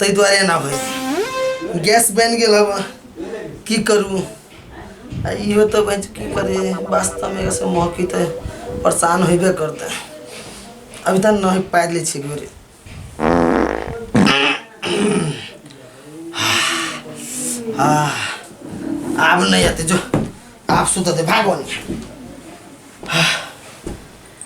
ताहि दुआरे एना होइए गैस बनि गेल हवा की करू आ इहो तऽ बच की करी वास्तवमे एकरासँ महकी तऽ परेशान होइबे करतै अभी तऽ नहि पारि लै छियै गोरे आह, आब नहि अतै जो आब सुतऽ दे भागो नहि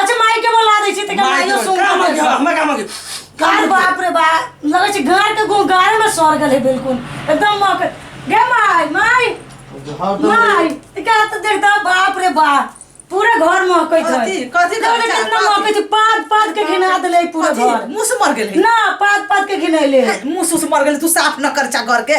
अच्छा माई के बोला दै छै त का माइयो सुन काम के आ हमरा काम के कार बाप रे बा लगे छै गार के गो गार में सर गेल है बिल्कुल एकदम मां के गे माई माई माई त का त देख दा बाप रे बा पूरे घर में कहै छै कथी- कथी देखो ने करता? कितना मां कहै छै पाद पाद के घिना देले है पूरे घर मुंह से मर गेल ना पाद पाद के घिनैले है मुंह से मर गेल तू साफ न कर चा घर के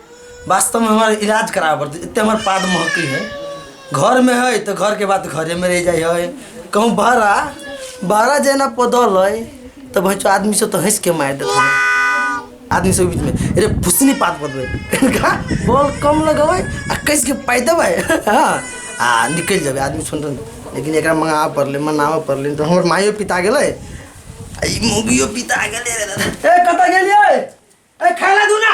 वास्तव में हमारे इलाज करावे पड़ते इतने हमारे पाद महकी है घर में है तो घर के बात घरे में रह जाए है कहूँ बहरा बहरा जेना पदल है तो भाई आदमी से तो हंस के मार देते हैं आदमी सब बीच में अरे फुसनी पात बदबे इनका बॉल कम लगवे आ कैसे के पाई देवे हाँ आ निकल जावे आदमी सुन रहे लेकिन एकरा मंगावा पड़ले मनावा पड़ले तो हमर मायो पिता गेले आ ई मुगियो पिता गेले रे दादा ए कत गेलिए ए खाला दूना